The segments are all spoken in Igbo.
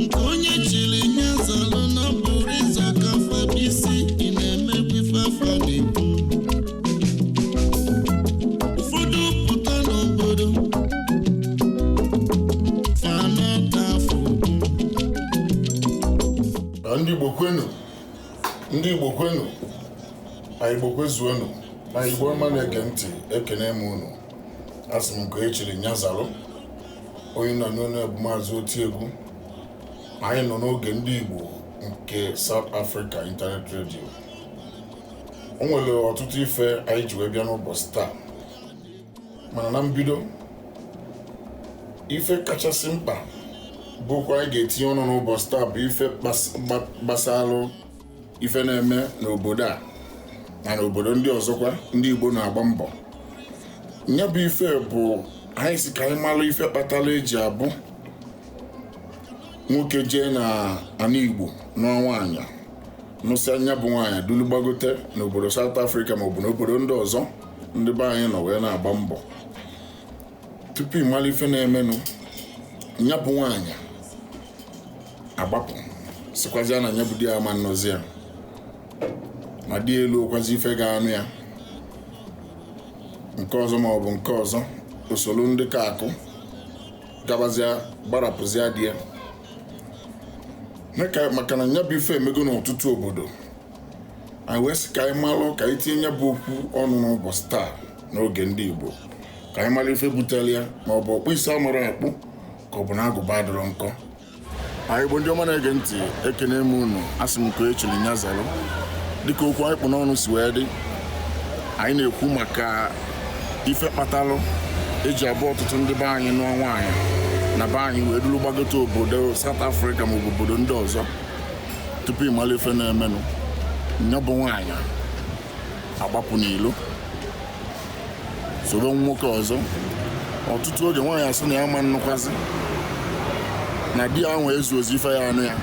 nke onye chiri nya zalụ na ọ bụrọ ịza oke afa bụ isi ị na-emegbu ife afa na-ekwu ụfọdụ pụta n'obodo fanata afọ okwu na ndị igbo kwenu ndị igbo kwenu anyị igbo kwezuonu anyị igbo ọma na-ege ntị ekene m unu asị m nke onye chiri nya zalụ onye a na-anụ onu ya bụ maazị otiegwu anyị nọ n'oge ndị igbo nke South Africa Internet Radio o nwere ọtụtụ ife anyị ji wee bịa n'ụbọchị taa mana na mbido ife kachasị mkpa bụ okwu anyị ga-etinye ọnụ n'ụbọchị taa bụ ife gbasalụ ife na-eme n'obodo a na n'obodo ndị ọzọkwa ndị Igbo na-agba mbọ nya bụ ife bụ anyị sị ka anyị malụ ife kpatalụ eji abụ nwoke jee na ana Igbo nụọ nwaanyị nụsịa nya bụ nwaanyị dulu gbagote n'obodo South Africa maọbụ n'obodo ndị ọzọ ndị be anyị nọ wee na-agba mbọ tupu ị malụ ife na-emenụ nya bụ nwaanyị agbapụ sịkwazịa na nya bụ di ya ama nnụzi ya ma di elurokwazi ife ga-anụ ya nke ọzọ ma ọ bụ nke ọzọ o soro ndị ka akụ gabazia gbarapụzia di ya maka na nya bụ ife emego n'ọtụtụ obodo anyị wee sị ka anyị malụ ka anyị tinye nya bụ okwu ọnụ n'ụbọchị taa n'oge ndị Igbo ka anyị malụ ife butelụ ya ma ọ bụ ọkpụ isi amarọ akpụ ka ọ bụ na agụba adịrọ nkọ anyị Igbo ndị ọma na-ege ntị ekene m unu asị m nke echiri nya zalụ dịka okwu anyị kpụ n'ọnụ si wee dị anyị na-ekwu maka ife kpatalụ eji abụ ọtụtụ ndị be anyị nụọ nwaanyị na be anyị wee dulu gbagote obodo South Africa ma ọ bụ obodo ndị ọzọ tupu ị malụ ife na-emenụ nya bụ nwaanyị agbapụ n'ilo soro nwoke ọzọ ọtụtụ oge nwaanyị asị na ya ama nnụkwazi na di ya nwe ezurozi ife ya-anụ ya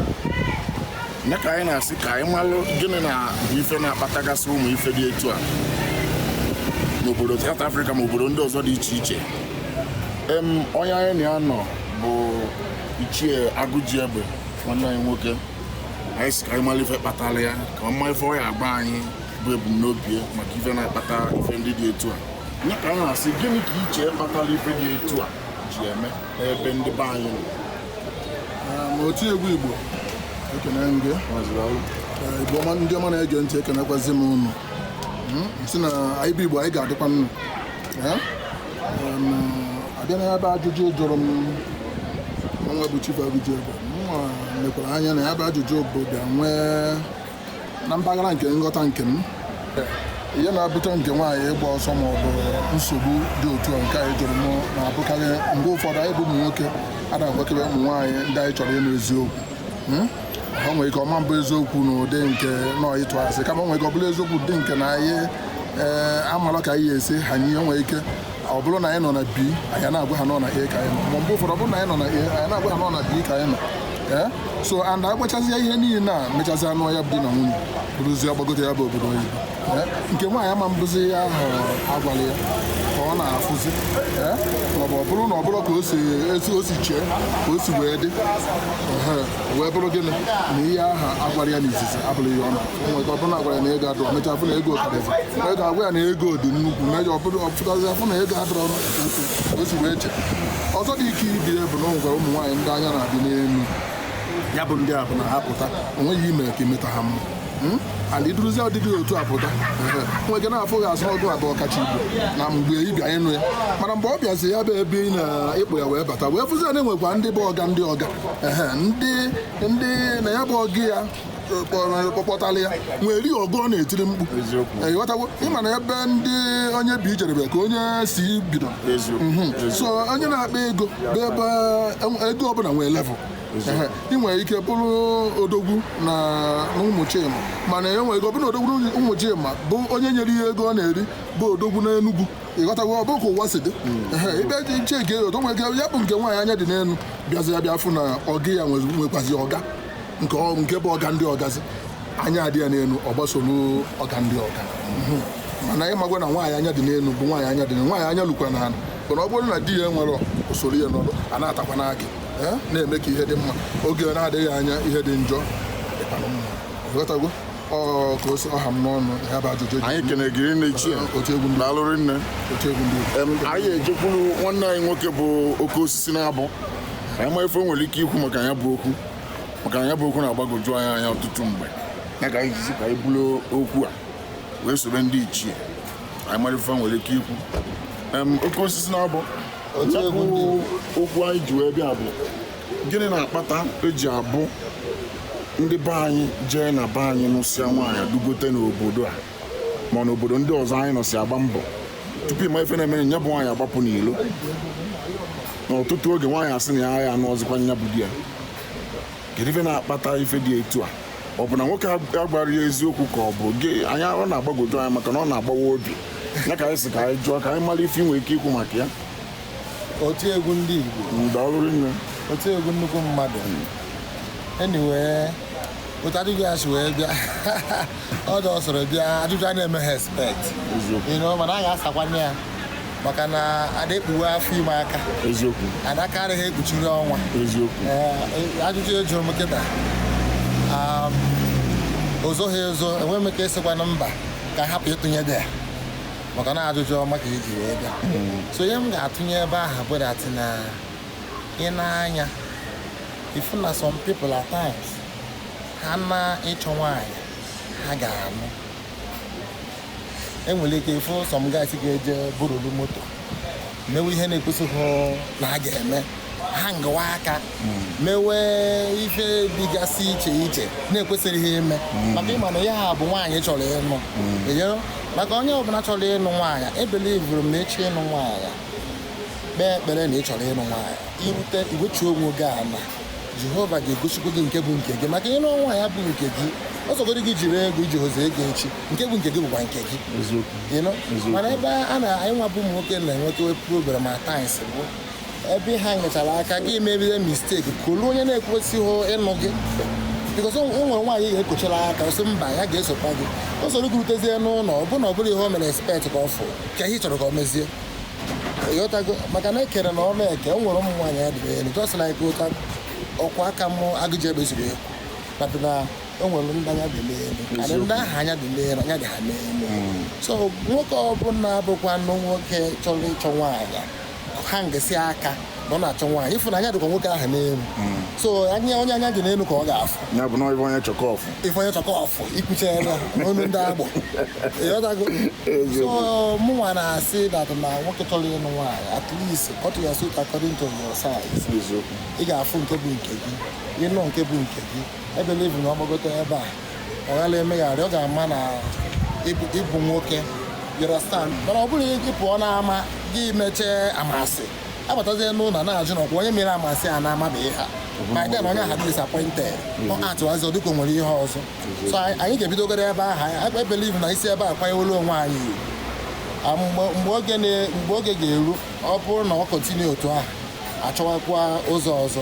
nya ka anyị na-asị ka anyị malụ gịnị na-abụ ife na-akpatagasị ụmụ ife dị etu a n'obodo South Africa ma obodo ndị ọzọ dị iche iche em onye anyị na ya nọ bụ ichie agụjiegbe nwanne anyị nwoke anyị sị ka anyị malụ ife kpatalụ ya ka a ma ife ọ ya-agwa anyị bụ ebumnobi ya maka ife na-akpata ife ndị dị etu a nya ka anyị na-asị gịnị ka ị che kpatalụ ife dị etu a ji eme n'ebe ndị be anyị nọ maazị otiegwu igbo ekene m gị Ee, igbo ndị ọma na-ege ntị ekenekwazi m unu sị na anyị bụ igbo anyị ga-adịkwa ndụ abịa na ya bụ ajụjụ ị jụrụ m nwa bụ Chief Abiji Egbe m lekwara anya na ya bụ ajụjụ bụ bịa nwee na mpaghara nke nghọta nke m ihe na-ebute nke nwaanyị ịgba ọsọ ma ọ bụ nsogbu dị otu a nke a ị jụrụ m na-abụkarị mgbe ụfọdụ anyị bụ ụmụ nwoke ada-agwakebe ụmụ nwaanyị ndị anyị chọrọ ịnụ eziokwu hmm? o nwere ike ọ ma-abụ eziokwu na ụdị nke na anyị tụ asị kama o nwere ike ọ bụrụ eziokwu ụdị nke na anyị ee eh, amalọ ka anyị esi ha o nwere ike ọ bụrụ na anyị nọ na B anyị na-agwa ha na ọ na A ka anyị nọ ma mgbe ụfọdụ ọ bụrụ na anyị nọ na A anyị na-agwa ha na ọ na B ka anyị nọ eh? so and agwachazie ihe niile na mechazia anụ ya bụ di na nwunye ruzie ọ gbagote ya bụ obodo oyibo nke nwaanyị ọ ma-abụzi ihe ahụ a gwara ya ka ọ na-afụzi maọbụ ọ bụrụ na ọ bụrọ ka o si etu o si chee ka o si wee dị ehe, wee bụrụ gịnị na ihe aha agwara ya n'izizi abụrọ ihe ọ na o nwere ike ọ bụrụ na agwara ya na ego adọrọ mechaa fụ na ego karịzi o nwee ike agwa ya na ego dị nnukwu mechaa ọ bụrụ ọ pụtazia fụ na ego adọrọ nnukwu ka o si wee chee ọzọ dị ka ibe ya bụ na o nwere ụmụ nwaanyị ndị anya na-adị n'elu ya bụ ndị a bụ na ha pụta o nweghị ihe i mee ka i meta ha mma Hmm? and i duruzi ndị dị otu a pụta o nwere ike na-afụ gị as ọ gị bụ ọkacha ibu na mgbe ị bịa ịnụ ya mana mgbe ọ bịazi ya bụ ebe ị na-akpọ ya wee bata wee fụzi na enwekwa ndị bụ ọga ndị ọga ndị ndị na ya bụ ọga ya kpọpụtala ya nwere ọga ọ na-etiri mkpu ị ghọtago ị ma na ebe ndị onye bi jedebe ka onye si bido mhm. so onye na-akpa ego bụ ebe e, ego ọbụla nwee level ị nwere ike bụrụ odogwu na Ụmụchima mana e nwere ike ọ bụrụ na odogwu na Ụmụchima bụ onye nyere ya ego ọ na-eri bụ odogwu na Enugwu ị ghọtago ọ bụ ka ụwa si dị ebe dị iche nke otu nwere ike ya bụ nke nwaanyị anya dị n'elu bịazia bịa fụ na ọga ya nwekwazi ọga nke ọ- nke bụ ọga ndị ọgazi anya adị ya n'elu ọ gbasoro ọga ndị ọga Mhm. mana ị makwa na nwaanyị anya dị n'elu bụ nwaanyị anya dị n'elu nwaanyị anya lukwara ala mana ọ bụrụ na di ya nwerọ o soro ya nọrọ a na-ata akwụ na akị eh, na-eme ka ihe dị mma oge na-adịghị anya ihe dị njọ dịkwa mma ị ghọtago ka o si ha m n'ọnụ ya bụ ajụjụ anyị kene gị rinne ichie eh, daalụ rinne anyị ejekwuru nwanne anyị nwoke bụ oke osisi na-abụ anyị ma ife i nwere ike ikwu maka ya bụ okwu maka na ya bụ okwu na-agbagoju anyị anya ọtụtụ mgbe ya ka anyị jizi ka anyị bulu okwu a wee sobe ndị ichie anyị mara ife fa nwere ike ikwu Em, oke osisi na abụ ya bụ okwu anyị ji wee bịa bụ gịnị na-akpata eji abụ ndị be anyị jee na be anyị nụsịa nwaanyị dugote n'obodo a ma ọ n'obodo ndị ọzọ anyị nọsi agba mbọ tupu ị ma ife na-emere nya bụ nwaanyị agbapụ n'ilo n'ọtụtụ oge nwaanyị asị na ya agha anụzikwa nya bụ di ya kedu ife na-akpata ife dị etu a ọ bụ na nwoke agwara ya eziokwu ka ọ bụ gịnị ọ na-agbagoju anyị maka na ọ na-agbawa obi ya ka anyị sị ka anyị jụọ ka anyị mara ife ị nwere ike ikwu maka ya oti egwu ndị Igbo daalụ rinne oti egwu nnukwu mmadụ anyway otu ajụjụ a si wee bịa ọ dị ọ sọrọ bịa ajụjụ a na-emeghị expect eziokwu you know mana a ga-asakwa ya maka na ada ekpuwe afọ ime aka eziokwu na aka adịghị ekpuchiri ọnwa eziokwu ajụjụ ị jụrụ m kịta um, ozoghị ezo enweghị m ike ịsịkwana mba ka hapụ ịtụnye idea maka na ajụjụ ọma ka i ji wee bịa hmm. so ihe m ga-atụnye ebe ahụ bụ that na ị nee anya ị fụ na some people at times ha na ịchọ nwaanyị ha ga-anụ e nwere ike ịfụ some guys ga-eje burulu moto mewe ihe na-ekwesịghị na ha ga-eme ha ngawa aka mewe ife dịgasị iche iche na-ekwesịrịghị ime maka ịma na ya ha bụ nwaanyị chọrọ ịnụ ịghọrọ? maka onye ọbụla chọrọ ịnụ nwaanyị ebelivuru m na ị chọọ ịnụ nwaanyị kpee ekpere na ị chọrọ ịnụ nwaanyị i rute i wechi onwe gị ala jehova ga-egosikwa gị nke bụ nke gị maka ịnụ nwaanyị bụ nke gị ọ sọgodi gị jiri ego i jihọzi ego echi nke bụ nke gị bụkwa nke gị mana ebe a na anyị nwabụ ụmụ nwoke na-enweta problem at times bụ ebe ha nyechara aka gị mebido mistake kpọlụ onye na-ekwesịghị ịnụ gị because o nwere nwaanyị ga-ekochara aka ọ sị mba ya ga-esokwa gị o soro gị rutezie n'ụlọ ọ bụrụ na ọ bụrọ ihe o mere expect ka ọ fụ kee ihe ị chọrọ ka ọ mezie ịghọtago maka na ekere na ọnụ eke o nwere ụmụ nwaanyị anya dị elu just like ụta ọkwa aka mụ agụji ebe siri ekwu na o nwere ndị anya dị n'elu karị ndị ahụ anya dị n'elu anya dị ha n'elu so nwoke ọbụla bụkwanụ nwoke chọrọ ịchọ nwaanyị ha ngesi aka na ọ na-achọ nwaanyị ị fụ na anya dịkwa nwoke ahụ n'elu so anya onye anya dị n'elu ka ọ ga-afụ ya bụ na ọ bụ onye chọ ka ọ fụ ife onye chọ ka ọ fụ ikwuchara onu ndị agbọ ịghọtago so mụnwa na-asị that na nwoke chọrọ ịnụ nwaanyị at least cut your suit according to your size eziokwu ị ga-afụ nke bụ nke gị ị nụ nke bụ nke gị ebelivu na ọ gbagote ebe a ọ ghala emegharị ọ ga-ama na ị bụ nwoke you understand mana ọ bụrụ gị pụọ n'ama gị mechee amasị abatazie n'ụlọ na-ajụ na ọkwa onye mere amasị a na-amabeghị ha ma then onye ahụ disappointed ọ atụwazi ọ dịka o nwere ihe ọzọ so anyị ga-ebidogodi ebe ahụ ebelivu na i si ebe a kwanyewolu onwe anyị mgbe oge ga-eru ọ bụrụ na ọ continue otu ahụ achọwakwa ụzọ ọzọ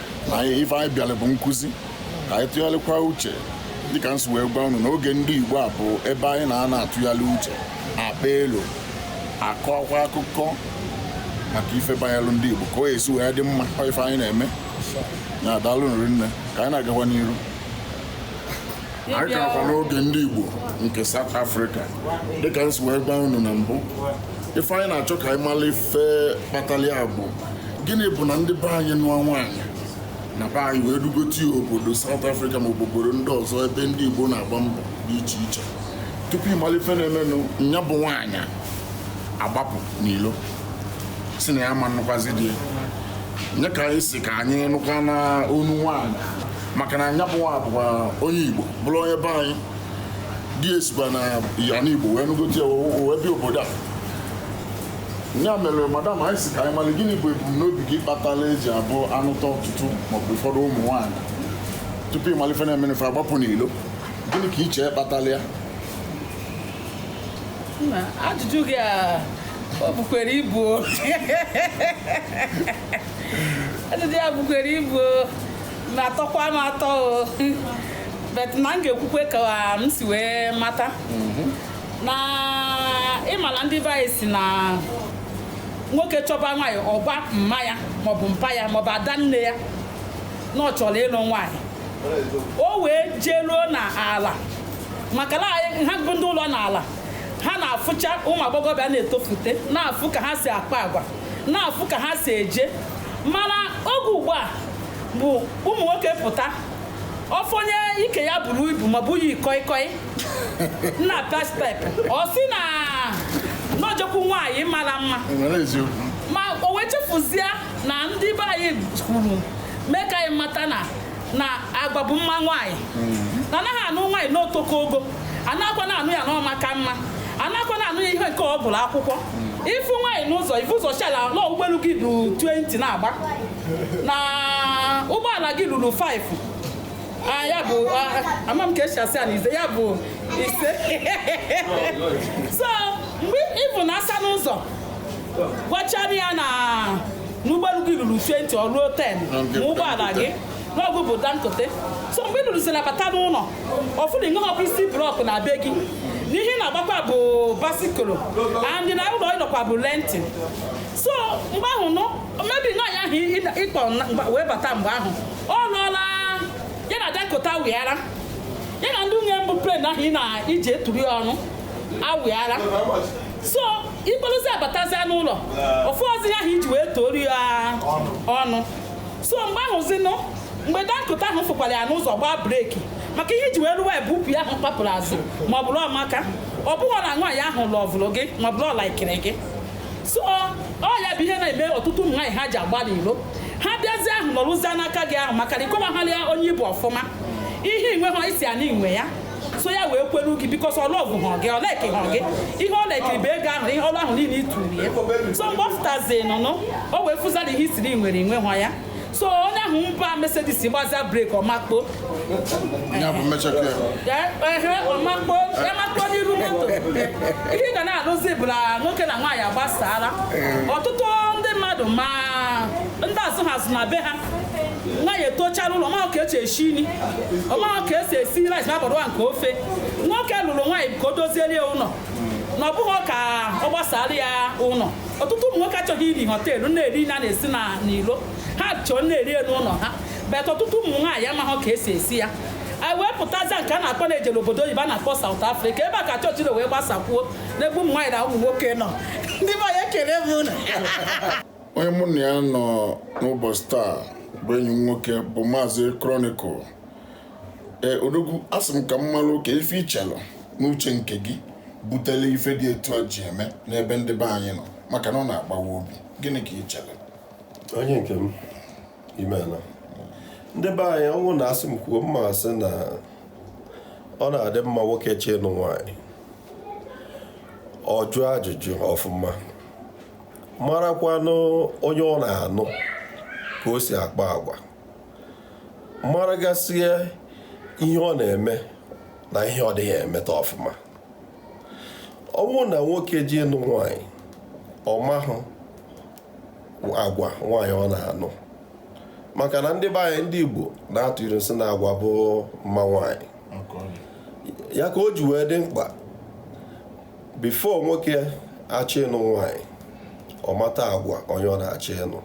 na ife anyị bịara bụ nkụzi ka anyị tụgharịkwa uche dịka m si wee gwa unu n'oge ndị Igbo a bụ ebe anyị na-anọ atụgharị uche akpa elu akọkwa akụkọ maka ife banyere ndị Igbo ka ọ ya-esi wee dị mma ife anyị na-eme na daalụ nụ rinne ka anyị na-agakwa n'iru anyị ka nọkwa n'oge ndị Igbo nke South Africa dịka m si wee gwa unu na mbụ ife anyị na-achọ ka anyị mara ife kpatara ya bụ gịnị bụ na ndị be anyị nụọ nwaanyị na be anyị wee dugote ya obodo South Africa maọbụ obodo ndị ọzọ ebe ndị Igbo na-agba mbọ dị iche iche tupu ị mara ife na-emenụ nya bụ nwaanyị agbapụ n'ilo si na ya ma-anụkwazi di ya nya ka anyị si ka anyị nụkwa n'ọnụ nwaanyị maka na nya bụ nwa bụkwa onye Igbo bụrụ onye be anyị di ya sikwa n'ana Igbo wee nụgote ya wee bịa obodo a ya mere madam anyị si ka anyị mara gịnị bụ ebumnobi gị kpatara e ji abụ a nụta ọtụtụ maọbụ ụfọdụ ụmụ nwaanyị tupu ị mali ife na-emenụ fa agbapụ n'ilo gịnị ka i che kpatara ya ajụjụ gị a o bukwere ibu ajụjụ ya bukwere ibu na-atọkwa m atọ o but na m ga-ekwukwe ka m si wee mata mhm. na ị mala ndị be anyị si na nwoke chọba nwaanyị ọ gwa mma ya maọbụ mpa ya maọbụ ada nne ya na ọ chọrọ ịlụ nwaanyị o wee jeruo na ala maka na anyị- ha bụ ndị ụlọ n'ala ha na-afụcha ụmụ agbọghọbịa na-etofute na-afụ ka ha si akpa agwa na-afụ ka ha si eje mana oge ugbu a bụ ụmụ nwoke pụta ọ fụ onye ike ya buru ibu maọbụ yi koi koi na-akpa step ọ sị na o jekwu nwaanyị mara mma nwere eziokwu ma o wee chefuzie na ndị be anyị kwuru mee ka anyị mata na na agwa bụ mma nwaanyị na a naghị anụ nwaanyị n'otoko ogo a nakwana anụ ya na ọmaka mma a nakwana anụ ya ihe nke ọ gụla akwụkwọ ị fụ nwaanyị n'ụzọ i vu ụzọ shịala na ụgbọelu gị ruru 20 na-agba na ụgbọala gị ruru 5 Ah, ya bụ ah, ama m ka e si asị ya na ise ya bụ ise so mgbe ị fụna asa n'ụzọ gwachara ya na n'ụgbọelu gị ruru 20 ọ ruo 10 ma ụgbọala gị na ọ gị bụ Dangote so mgbe ị lụrụziri ya bata n'ụlọ ọ fụ na i nweghị ofu isi block na be gị na ihe ị na-agbakwa bụ bicycle and na ụlọ ị nọkwa bụ renting so mgbe ahụ nụ maybe nwaanyị ahụ ị- ị- ị kpọ na- mgbe- wee bata mgbe ahụ ọ lụọla ya na Dangote awịara ya na ndị nwunye mbụ plane ahụ ị na-eji eturu ya ọnụ awịara so ị kpọrọzia batazia n'ụlọ ọ fụrọzi ihe ahụ iji wee tuoru ya ọnụ so mgbe ahụzinụ mgbe Dangote ahụ fụkwara ya n'ụzọ gbaa breki maka ihe iji wee lụwa ya bụ ukwu ahụ kpapụrụ azụ ma ọ bụrọ maka ọ bụghị na nwaanyị ahụ lọvụrụ gị ma ọ bụrụ ọ laikiri gị so ọ ya bụ ihe na-eme ọtụtụ ụmụ nwaanyị ha ji agba n'ilo ha bịazie ha anọrọzi n'aka gị ahụ maka na ị kọwaghịrị ya onye ị bụ ọfụma ihe inweha ị sị ya na inwe ya so ya wee kwelu gị bikos ọ lọvụha gị ọ laikiha gị ihe ọ laikiri bụ ego ahụ ihe ọnụ ahụ niile ituru ya so mgbe ọ fụtazi n'ụnọ o wee fụzia na ihe ị sịrị i nwere inweha ya so onye ahụ gba Mercedes gbazia breki ọ makpuo ọ makpuo ọ makpuo n'iru moto ihe ị ga na-anụzi bụ na nwoke na nwaanyị agbasala ọtụtụ ndị mmadụ ma ndị azụha azụ na be ha nwaanyị etochaa n'ụlọ ọ mahụ ka esi esi nri ọ mahụ ka esi esi rice ma bọrọ nke ofe nwoke lụrụ nwaanyị ka o doziere ya ụlọ na ọ bụghị ka ọ gbasara ya ụlọ ọtụtụ ụmụ nwoke achọghị iri họteelụ na-eri na na-esi n'ilo ha chọrọ na-eri n'ụlọ ha bet ọtụtụ ụmụ nwaanyị amaghị ka esi esi ya anyị wee pụtazie nke a na-akpọ na ejere obodo oyibo a na-akpọ South Africa ebe a ka chọọchị na wee gbasakwuo n'ebe ụmụ nwaanyị na ụmụ nwoke nọ ndị be anyị ekele m unu onye mụ na ya nọ n'ụbọchị taa bụ enyi m nwoke bụ maazị Chronicle ee odogwu asị m ka m malụ ka ife ichelụ n'uche nke gị butele ife dị etu a ji eme n'ebe ndị be anyị nọ maka na ọ na-agbawa obi gịnị ka ichelụ onye nke m imeela ndị be anyị ọ wụ na asị m kwuo m ma asị na ọ na-adị mma nwoke chọọ ịnụ nwaanyị ọ jụọ ajụjụ ọfụma marakwanụ onye ọ na-anụ ka o si akpa agwa maragasịa ihe ọ na-eme na ihe ọ dịghị emeta ọfụma ọ bụrụ na nwoke jee ịnụ nwanyị ọ mahụ agwa nwaanyị ọ na-anụ maka na ndị be anyị ndị Igbo na-atụ ilu sị na agwa bụ mma nwaanyị ya ka o ji wee dị mkpa bifo nwoke achọ ịnụ nwaanyị ọ mata agwa onye ọ na-achọ ịnụ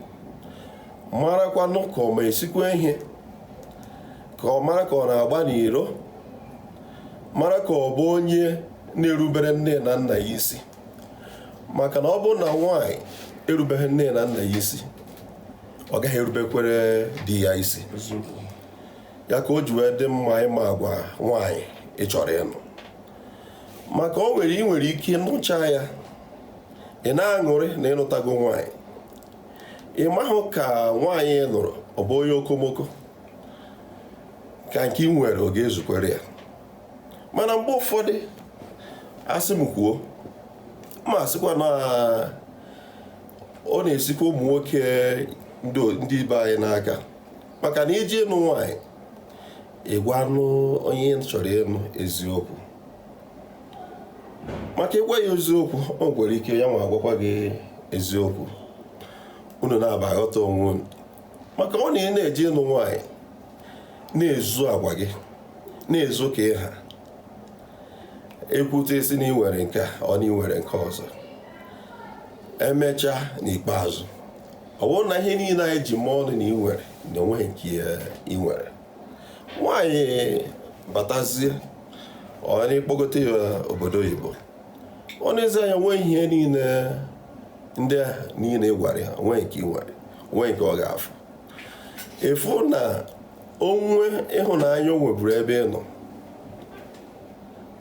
marakwanụ ka ọ ma esikwa ihe ka ọ mara ka ọ na-agba n'iro mara ka ọ bụ onye na-erubere nne na nna ya isi maka na ọ bụrụ na nwaanyị erubeghị nne na nna ya isi ọ gaghị erubekwere di ya isi ya ka o ji wee dị mma ịma agwa nwaanyị ị chọrọ ịnụ maka o nwere ị nwere ike nụcha ya ị na-aṅụrị na ịnụtago nwaanyị ị mahụ ka nwaanyị ị nụrụ ọ bụ onye okomoko ka nke ị nwere ọ ga-ezukwara ya mana mgbe ụfọdụ a sị m kwuo m asịkwa na ọ na-esikwa ụmụ nwoke ndị be anyị n'aka maka na ị je ịnụ nwaanyị ị gwanụ onye ị chọrọ ịnụ eziokwu maka ị gwa ya eziokwu o nwere ike ya nwa agwakwa gị eziokwu unu naabọ aghọta onwe unu maka ọ na ị na-eje ịnụ nwaanyị na-ezo agwa gị na-ezo ka ị ha e kwute ị sị na ị nwere nke a ọ na ị nwere nke ọzọ emechaa n'ikpeazụ ọ bụrụ na ihe niile a ị ji mee ọnụ na ị nwere na o nweghị nke ị nwere nwaanyị batazie ọ na ị kpọgote ya obodo oyibo o nezie anya nwee ihe niile ndị a niile ị gwara ya o nwee nke ị nwere o nwee nke ọ ga-afụ ị fụ na o nwee ịhụnanya o nweburu ebe ị nọ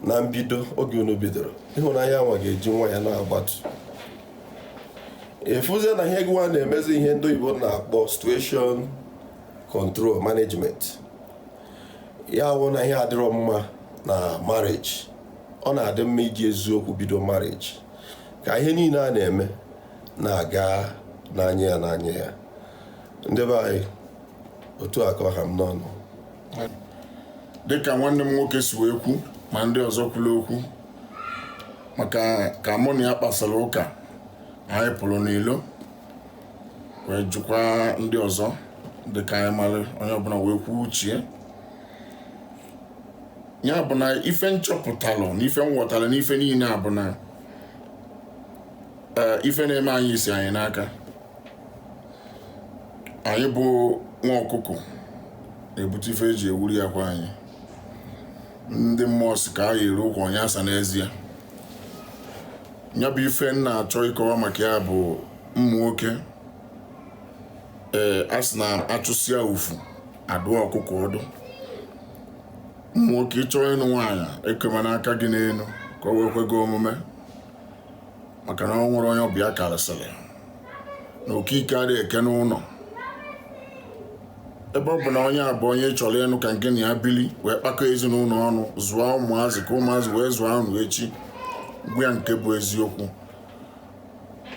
na mbido oge unu bidoro ịhụnanya nwa ga-eji nwayọ na-agbatu ị fụzie na ihe gịnwa na-emezi ihe ndị oyibo na-akpọ situation control management ya wụ na ihe a adịrọ mma na marriage ọ na-adị mma iji eziokwu bido marriage ka ihe niile a na-eme na-aga n'anya ya n'anya ya ndị be anyị otu a ka ọ ha m n'ọnụ dịka nwanne m nwoke si wee kwu ma ndị ọzọ kwuru okwu maka ka mụ na ya kpasara ụka anyị pụrụ n'ilo wee jụkwa ndị ọzọ dị ka anyị mara onye ọbụla wee kwuo uche ya bụ na ife m chọpụtalụ na ife m ghọtalụ na ife niile a bụ na ee ife na-eme anyị si anyị n'aka anyị bụ nwa ọkụkọ na-ebute ife eji ewuri akwa anyị ndị mmụọ sị ka a yiri ụkwụ onye asa n'ezie ya bụ ife m na-achọ ịkọwa maka ya bụ ụmụ nwoke ee a sị na a chụsịa ufu a dụọ ọkụkọ ọdụ ụmụ nwoke ị chọọ ịnụ nwaanyị ekemana aka gị n'elu ka o wee kwe gị omume maka na ọ nwere onye ọbịa karịsịrị na okike adịghị eke n'ụlọ ebe ọ bụ na onye a bụ onye ị chọrọ ịnụ ka ngị na ya bili wee kpakọọ ezinụlọ ọnụ zụọ ụmụazị ka ụmụazị wee zụọ unu echi gwa ya nke bụ eziokwu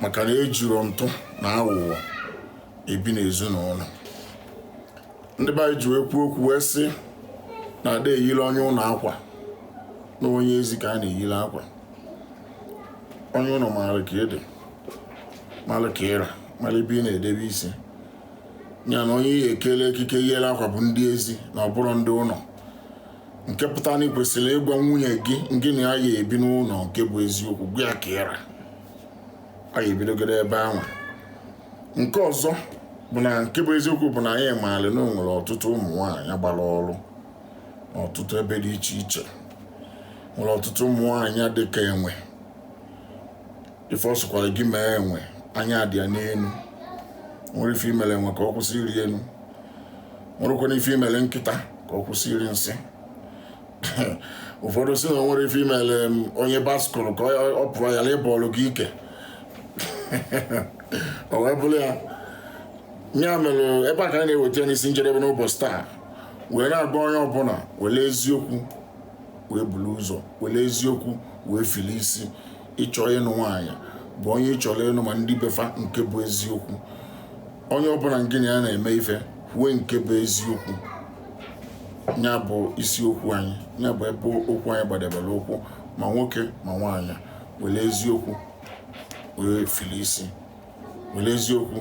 maka na ejiro ntụ na aghụghọ ebi n'ezinụlọ ndị be anyị ji wee kwuo okwu wee sị na a da-eyiri onye ụlọ akwa na onye ezi ka a na-eyiri akwa onye ụlọ maara ka ị dị mara ka ị ra mara ebe ị na-edebe isi ya na onye ị ya-ekele ekike yiri akwa bụ ndị ezi na ọ bụrọ ndị ụlọ nke pụtara na ị kwesịrị ịgwa nwunye gị ngị na ya ya-ebi n'ụlọ nke bụ eziokwu gwa ya ka ị ra a ya-ebidogodi ebe ahụ nke ọzọ bụ na nke bụ eziokwu bụ na anyị maara na o nwere ọtụtụ ụmụ nwaanyị gbara ọrụ n'ọtụtụ ebe dị iche iche nwere ọtụtụ ụmụ nwaanyị dị ka enwe ife ọ sọkwara gị mee enwe anya dị ya n'elu nwerọ ife i mere enwe ka ọ kwụsị ịrị elu nwerọkwanụ ife i mere nkịta ka ọ kwụsị iri nsị ụfọdụ sị na o nwerọ ife i mere onye baskụlụ ka ọ- ọ pụọ ya na ịbọọlụ gị ike o wee bụrụ ya ya mere ebe a ka anyị na-eweta ya n'isi njedebe n'ụbọchị taa wee na-agwa onye ọbụla were eziokwu wee buru ụzọ were eziokwu wee fili isi ị chọọ ịnụ nwaanyị gwa onye ị chọrọ ịnụ ma ndị be fa nke bụ eziokwu onye ọbụla ngị na ya na-eme ife kwue nke bụ eziokwu ya bụ isiokwu anyị ya bụ ebe okwu anyị gbadebere ụkwụ ma nwoke ma nwaanyị were eziokwu wee fili isi were eziokwu